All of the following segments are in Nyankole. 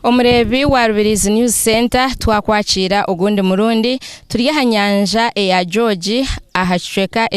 Omureebi wa Rubirizi News Centre twakwakiira ogundi murundi turi aha nyanja eya George aha kicweka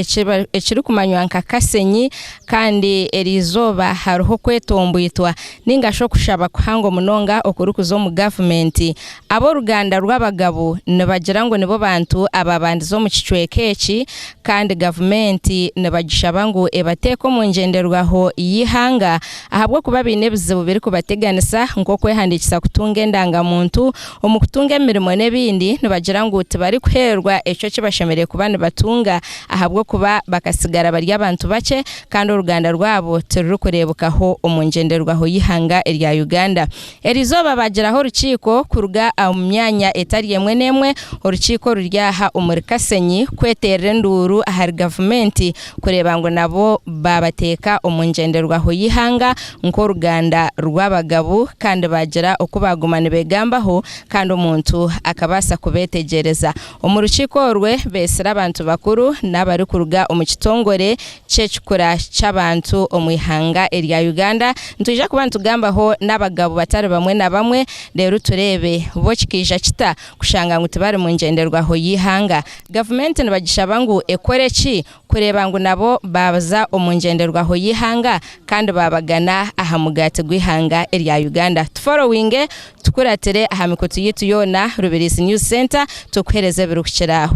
ekirikumanywa nka Kasenyi kandi eri izooba hariho okwetombwitwa ningashi okushaba kuhango munonga okurikuza omu gavumenti Ab'oruganda rw'abagabo nibagira ngu nibo bantu abaabandize omu kicweka eki kandi gavumenti nibagishaba ngu ebateeke omu ngyenderwaho y'eihanga ahabw'okuba baine ebizibu birikubateganisa nk'okwehandiikisa kutunga endangamuntu, omu kutunga emirimo n'ebindi nibagira ngu tibarikuheerwa ekyo eki bashemereire kuba nibatunga ahabw'okuba bakatsigara bari abantu bakye kandi oruganda rwabo tirurikureebekaho omu ngyenderwaho y'eihanga erya Uganda. Erizooba baagiraho orukiiko kuruga omu myanya etari emwe n'emwe, orukiiko oruri aha omuri Kasenyi kweterera enduuru ahari gavumenti kureeba ngu nabo baabateeka omu ngyenderwaho y'eihanga nk'oruganda rw'abagabu kandi baagira oku baaguma nibegambaho kandi omuntu akabaasa kubeetegyereza. Omu rukiiko orwe beetsire abantu bakuru n'abarikuruga omu kitongore ky'ekikura ky'abantu omu ihanga erya Uganda, nitwija kuba nitugambaho n'abagabo batari bamwe na bamwe reeru tureebe bo kikaija kita kushanga ngu tibari mu ngyenderwaho y'eihanga. Gavumenti nibagishaba ngu ekore ki kureeba ngu nabo baaza omu ngyenderwaho y'eihanga kandi baabagana aha mugaati gw'eihanga erya Uganda? Tuforowinge tukuratire aha mikutu yaitu yoona Rubirizi News Centre tukuhereze ebirikukira aho.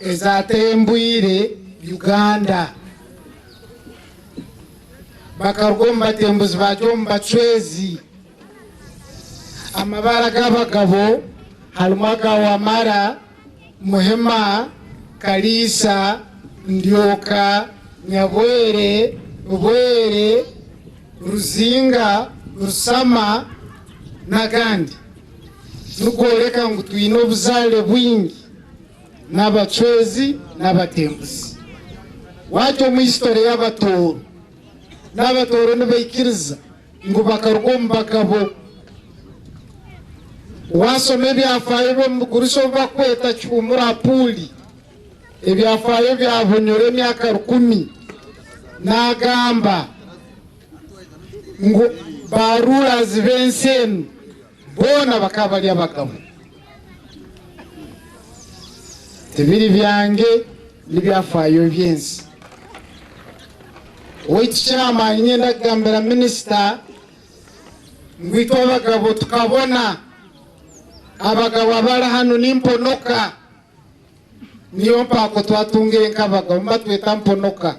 ezaatembwire Uganda bakaruga omu batembuzi baagyo omu bacwezi. Amabara g'abagabo harimu aga Wamala, Muhima, Kaliisa, Ndyoka, Nyabwere, Bwere, Ruzinga, Rusama n'agandi. Nikworeka ngu twine obuzaare bwingi. n'abacwezi n'abatembuzi. Waaza omu hisitore y'Abatooro, n'Abatooro nibaikiriza ngu bakaruga omu Bagabo. Waashoma ebyafaayo by'omu bigurusi obu barikweta Kihuumura Puuli, ebyafaayo bya Bunyoro emyaka rukumi, naagamba ngu ba ruurazi b'ensi enu Boona bakaba bari abagabe. Tibiri byange, n'ebyafaayo eby'ensi. Waitu chairman nyenda kugambira minisita ngu itwe abagabo tukabona abagabo abari hanu ni mponoka. Niyo mpaako twatungire nk'abagabo nibatweta mponoka.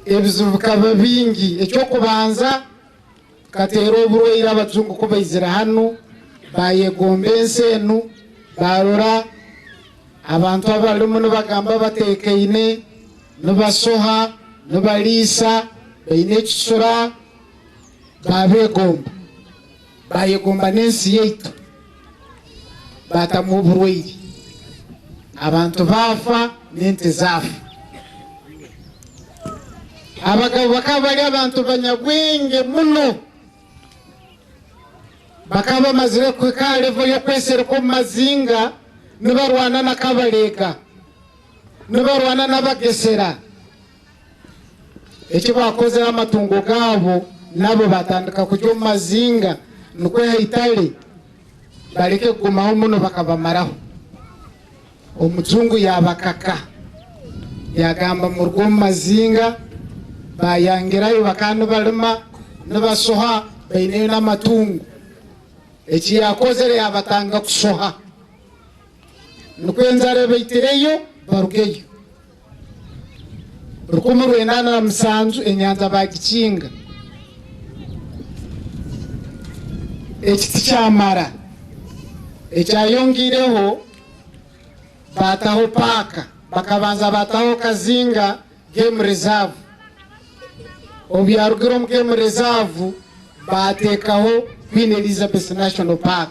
Ebizibu bikaba bingi, eky'okubanza, Kikateera oburwaire abajungu ku baizire hanu baayegomba ensi enu, baarora abantu abarimu nibagamba bateekaine, nibashoha, nibariisa, baine ekicura, baabeegomba. Baayegomba n'ensi yaitu. baatamu oburwaire, abantu baafa n'ente zaafa. Abagabo bakaba bari abantu banyabwenge muno. Bakaba bamazire kuhika aha revo y'okwesereka omu mazinga nibarwana na Kabareega, nibarwana n'Abagesera. Eki baakozire amatungo gaabo, nabo baatandika kurya omu mazinga, nikwo Haitale bareke kugumaho muno bakabamaraho. Omujungu yaabakaka, yaagamba muruge omu mazinga. Baayangirayo bakaba nibarima, nibashoha, baineyo n'amatungo. Eki yaakozire yaabatanga kushoha, nikwo enjara ebaitireyo barugeyo. Rukumi rwenda na musanju enyanja baagikinga, ekiti kya mara ekyayongeireho baataho paaka, bakabanza baataho Kazinga Game Reserve, obuyaarugire omu Game Reserve baateekaho Queen Elizabeth National Park.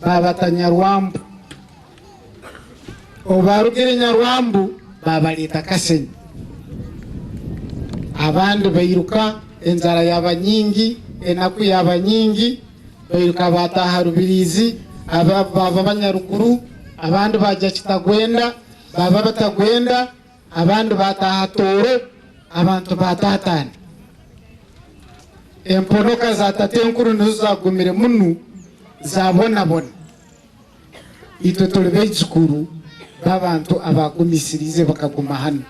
baaba Tanyarwambu. Obu baarugire Nyarwambu baabareeta Kasenyi. Abandi bairuka, enjara yaaba nyingi, enaku yaaba nyingi, bairuka baataaha Rubiriizi, abandi baaba Banyaruguru, abandi baagya Kitagwenda, baaba Batagwenda. Abandi baataaha Tooro, abantu ba Taataani. Emponoka za Tatenkuru nizo zaagumire munu zaabonabona. Itwe turi baijukuru b'abantu abaagumisiriize bakaguma hanu.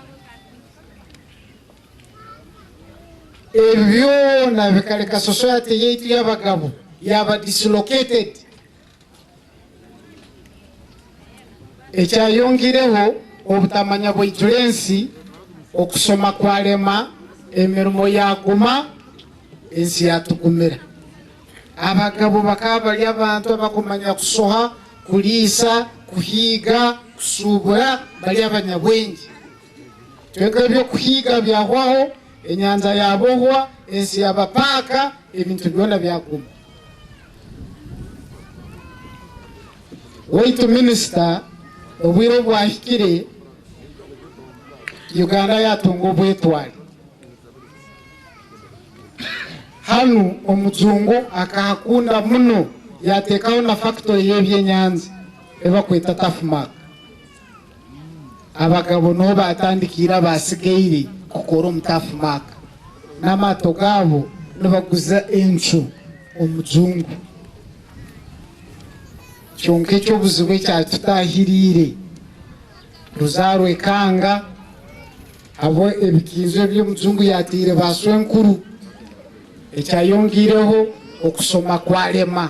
Ebi byoona bikareka sosayate yaitu y'abagabo yaaba dislocated. Ekyayongireho obutamanya bwaijura ensi, okushoma kwarema, emirimo yaguma, ensi yatugumira. Abagabo bakaba bari abantu abakumanya kushoha, kuriisa, kuhiiga, kushuubura, bari abanyabwengye. Kwonka eby'okuhiiga byahwaho, enyanja yabohwa, ensi yaba paaka, ebintu byona byaguma. Waitu Minisita, obwire bwahikire Uganda yaatunga obwetwaare. Hanu omujungu akahakunda muno yaateekaho na fakitori y'ebyenyanja ei barikweta Tafumak. Abagabo niho baatandikiire abaatsigaire kukora omu Tafu Maaka n'amaato gaabo nibaguza encu omu jungu. Kyonka eky'obuzibu ekyatutaahiriire ruzaarwa ekanga abu ebikiinzo eby'omu jungu yaataire baashwenkuru, ekyayongeireho okushoma kwarema.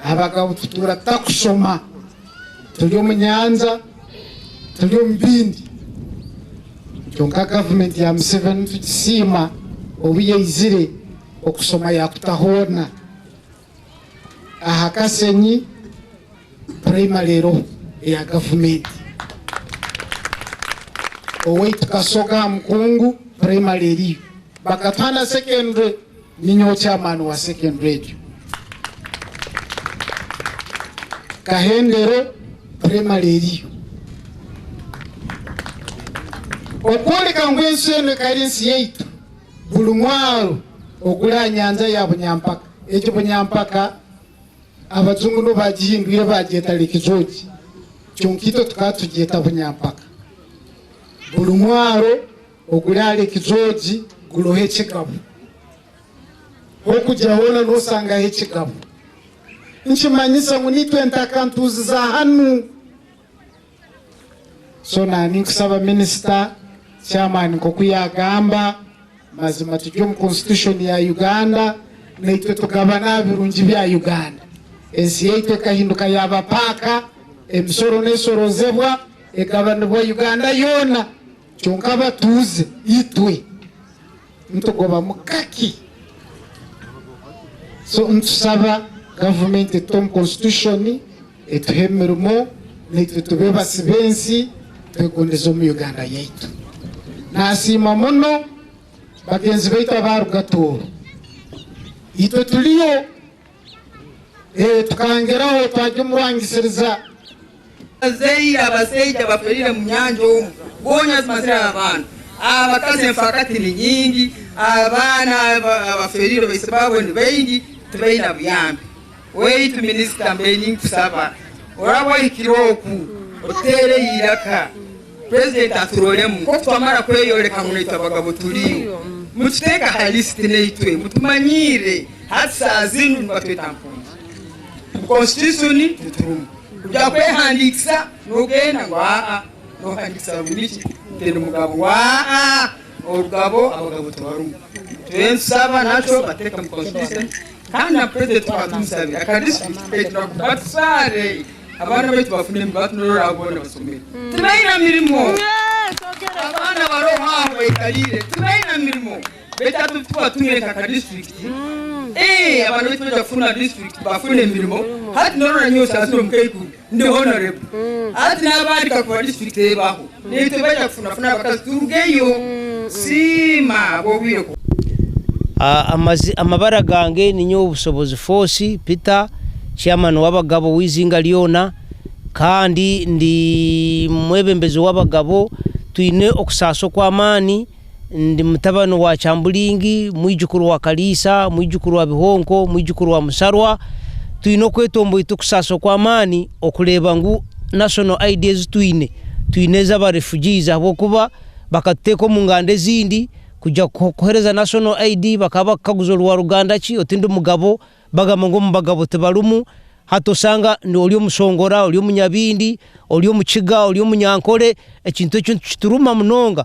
Abagabo tutuura tutakushoma, turi omu nyanja, turi omu bindi. Kyonka gavumenti ya Museveni nitugisiima obu yaizire okushoma yaakuta hoona. Aha Kasenyi purayimare eriho eya gavumenti. Owaitu Kasoga aha Mukungu purayimare eriyo. Bakatuha na sekendure. Ninyowe Chairman wa Second Radio. Kahendere Primary eriyo. Okworeka ngu ensi enu ekaba ensi yaitu, buri mwaaro oguri aha nyanja ya Bunyampaka, egi Bunyampaka abajungu nibo baagihindwire baagyeta Lake George, kyonka itwe tukaba tugyeta Bunyampaka. Buri mwaaro. Oguri ahari kijoogi guriho ekigabo. H'okugya hoona nosangaho ekigabo. Nikimanyisa ngu n'itwe ntaka ntuuzi za hanu. So na ninkusaba Minisita, Chairman nk'oku yagamba, mazima turi omu Constitution ya Uganda, naitwe tugabane aha birungi bya Uganda. Ensi yaitu ekahinduka yaaba paaka, emisoro n'esorozebwa, egabanibwa Uganda yoona. Kyonka abatuuze itwe nitugobamu kake so nitusaba gavumenti etute omu konsitushoni etuhe emirimo naitwe tubeebasi b'ensi twegondeze omu Uganda yaitu. Naasiima muno bagenzi baitu abaaruga Tooro. Itwe tuliyo. Tukangeraho twagya omu rwangisiriza. Abazaire abasaija abafeereire mu nyanja omu goonya zimazire abantu, abakazi enfaakati ni nyingi, abaana abafeereire baitse baabo ni baingi, tibaine buyambi. Waitu Minisita, mbaire ninkusaba oraabe ohikire oku, otuteereyo eiraka. President aturoremu nk'oku twamara kweyoreka ngu naitwe abagabo turiyo. Mututeeke aha list naitwe mutumanyiire hati saaha zinu nibatweta mpungi. Mu constitution titurumu. Kugira kwehandiikisa nogenda ngu aa nohandikisa ngu niki tindi mugabo aa orugabo abagabo tubarumu. Turetusaba naco batuteeke mu constitution. Kandi na Purezidenti twaba tumusabire aka disiturikiti kaitu nabo batutware abaana baitu bafune emibatu nari oraba boona basomere. Tibaine mirimo. Abaana bari omu aho baikariire tibaine mirimo. Beitu hati twaba twine nka ka disiturikiti, ee abaana baitu nibaija kufuna disiturikiti bafune emirimo. Hati nari oranywa osaasire omukaikuru. Ndi honorable hati n'abandi kakuba district ebaho naitwe baija kufunafuna abakazi turugeyo. Siima ahabw'obwire ku. Amazi amabara gange ni nyowe Bushobozi Force Peter, Chairman w'abagabo w'izinga lyona kandi ndi mwebembezi w'abagabo. Twine okusaasa okw'amaani. Ndi mutabani wa Kyambulingi, mwijukuru wa Kariisa, mwijukuru wa Bihonko, mwijukuru wa Musarwa. Twine okwetomboyi tukusaasa okw'amaani okureeba ngu National ID ezi twine, twine ez'aba refugees ahabw'okuba bakatuteeka omu nganda ezindi kugira kuhereza National ID bakaba bakukaguza ori wa ruganda ki, oti ndi mugabo, bagamba ngu omu bagabo tibarimu, hati osanga ori omushongora, ori omunyabindi, ori omukiga, ori omunyankore, ekintu ekyo nitukituruma munonga.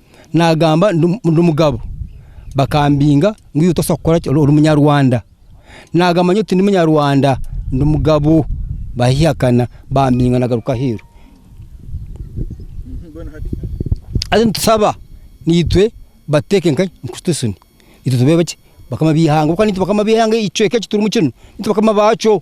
nagamba ndi mugabo bakambinga ngu iwe tobaasa kukora ki ori munyarwanda nagamba nyowe tindi munyarwanda ndi mugabo bahihakana bambinga nagaruka aheeru hati nitusaba naitwe batuteeke nka constitution itwe tubeho ki bakama b'eihanga ahabw'okuba naitwe bakama b'eihanga ekicweka eki turimu kinu naitwe bakama baakyo.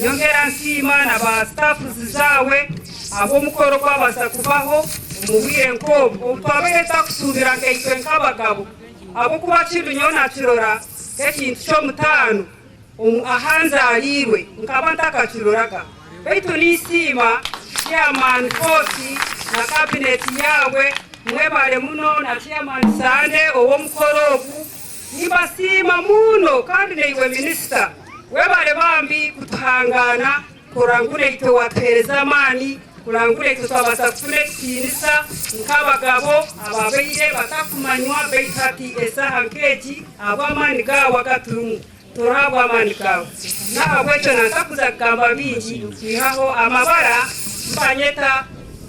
Nyongera nsiima na ba staffs zaawe ahabw'omukoro ogwabaasa kubaho omu bwire nk'obwo obu twabaire tutakusuubira nkaitwe nk'abagabo ahabw'okuba kinu nyowe nakirora nk'ekintu ky'omutaano aha nzaariirwe nkaba ntakakiroraga baitu ninsiima Chairman Koosi na Cabinet yaawe mwebare muno na Chairman Sande ow'omukoro ogu. Nibasiima muuno kandi naiwe Minisita webare bambi kutuhangaana kurora ngu naitwe watuhereza amaani kurora ngu naitwe twabasa kufuna ekitiinisa nk'abagabo ababaire batakumanywa baitu hati esaaha nk'egi ahabw'amaani gaawe agaturimu. Turahabwa amaani ka n'ahabw'ekyo nansakuza kugamba bingi kwihaho amabara nibanyeta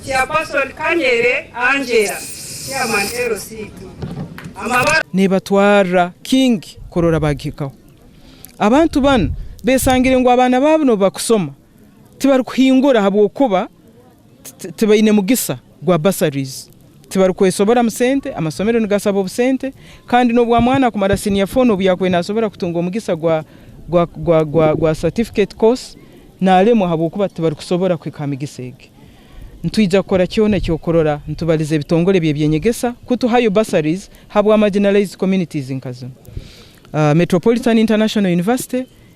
Chairperson Kanyere Angella, Chairman LC2. Neebatwarira King kurora baagihikaho. Abantu banu beesangire ngu abaana baabo nibo bakusoma, tibarikuhingura ahabw'okuba tibaine mugisa gwa bursaries, tibarikwesoboramu sente, amasomero nigashaba obusente kandi n'obu omwana akumara senior four n'obu yaakubaire naasobora kutunga omugisa gwa gwa gwa gwa gwa certificate course naaremwa ahabw'okuba tibarikusobora kuhika ha migisa egi. Nitwija kukora kyona eky'okurora nitubaliza ebitongore by'eby'enyegesa kutuhayo bursaries habwa marginalised communities nka zinu, Metropolitan International University,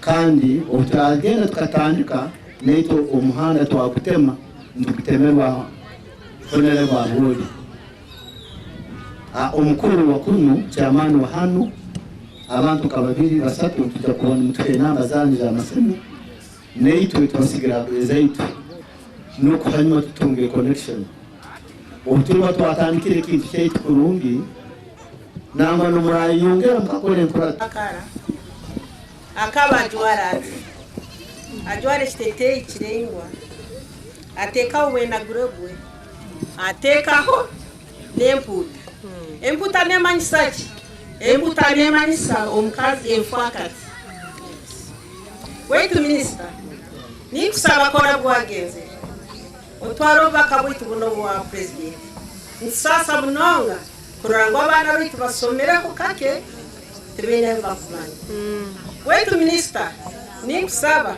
Kandi obu twagenda tukatandika, naitwe omuhanda twagutema, nitugutemerwa funere bwa Rwobi. Omukuru wa kunu, Chairman wa hanu, abantu nka babiri basatu nitwija kuba nimutuha enamba zanyu za masimu, naitwe tubasigira ezaitu n'oku hanyima tutunge connection. Obu turiba twatandikire ekintu kyaitu kurungi, Nangwa nimurayeyongera mukakora enkurato. Akara akaba ajwara ati, ajwara ekiteteeyi kiraingwa, ateekaho obwenagure bwe, ateekaho n'empuuta. Empuuta neemanyisa ki? Empuuta neemanyisa omukazi enfwakati. Waitu Minisita, ninkusaba kora bwagenzere, otware obubaka bwaitu bunu obwa Purezidenti. Nitusaasa munonga. Kurora ngu abaana baitu basomireho kake tibaine ahu bakumanya. Waitu Minisita, ninkusaba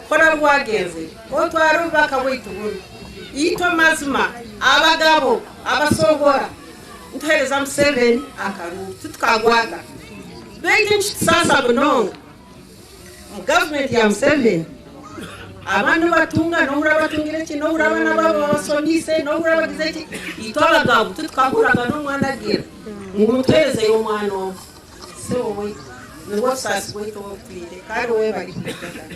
kora obu waagenzire otware obubaka bwaitu bunu. Itwe mazima abagabo abashohora nituheereza Museveni akaruuru, titukagwaga. Beitu nikitusaasa munonga. Omu gavumenti ya Museveni, aba nibatunga n'obu oraabe atungire ki, n'obu oraabe nabo abashomiise, n'obu oraabe ogize ki, itwe abagabo titukahuriraga n'omwana agira ngu mutuheerezeyo omwana ogwo. Sebo waitu, nibwo busaasi bwaitu obu butwire. Kandi webare kubigarukamu.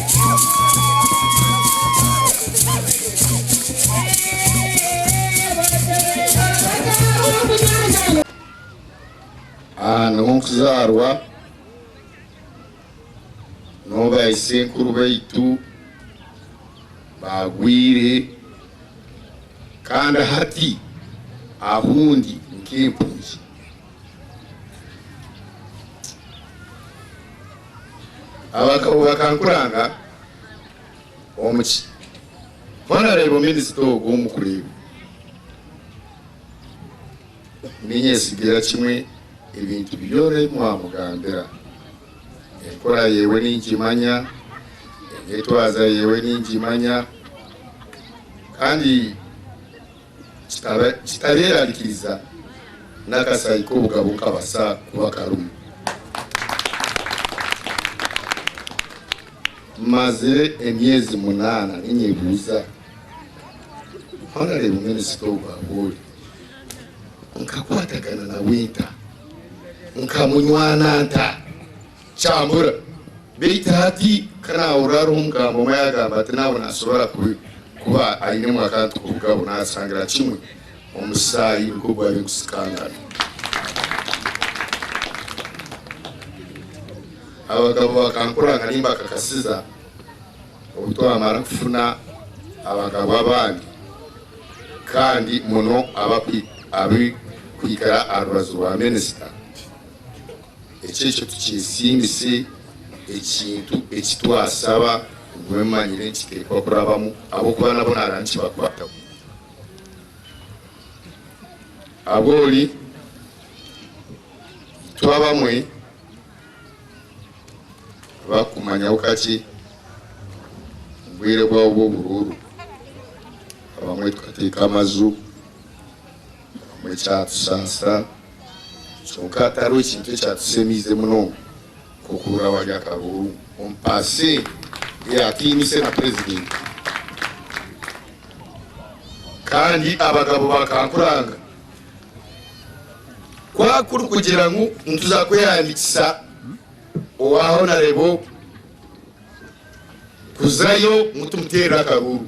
Aha niho nkuzaarwa niho ba isenkuru baitu baagwire kandi hati ahu ndi nk'empunzi. Abakaho bakankuranga omu ki? Hona reeba ominisita ogu omukureeba. Ninyetsigira kimwe ebintu byona ebi mwamugambira. Enkora yewe ningimanya, enyetwaza yewe ningimanya kandi. kikaba kitabeerarikiriza n'akasai k'obugabo nkabasa kuba karimu. Mmazire emyezi munaana ninyebuuza, Honorable Minister ogu abu ori, nkakwatagana nawe nta? Nkamunywana nta? Kyabura. Beitu hati ka naahurira hariho omugamba omwe ayagamba ati naawe naasobora kuba ainemu akantu k'obugabo, naasangira kimwe omusaayi nk'ogu ari kusikangana. Abagabo bakankuranga nimbakakasiza obu twamara kufuna abagabo abandi kandi muno abari kwikara aha rubaju rwa minisita. Eki ekyo tukyesiimise ekintu eki twasaba mube mumanyire nti tirikuba kurabamu ahabw'okuba nabo nareeba nikibakwataho. Aboori itwe abamwe abarikumanyaho kakye omu bwire bwabo bw'oburuuru abamwe tukateeka amaju. Nyowe ekyatushansira kyonka hatariho ekintu ekyatusemiize munonga nk'okuhurira abari akabuuru omu paase eyatiinise na Purezidenti kandi abagabo bakankuranga ku akurikugira ngu nituza kwehandiikisa owa Honarebo kuzayo ngu tumuteerere akaruuru.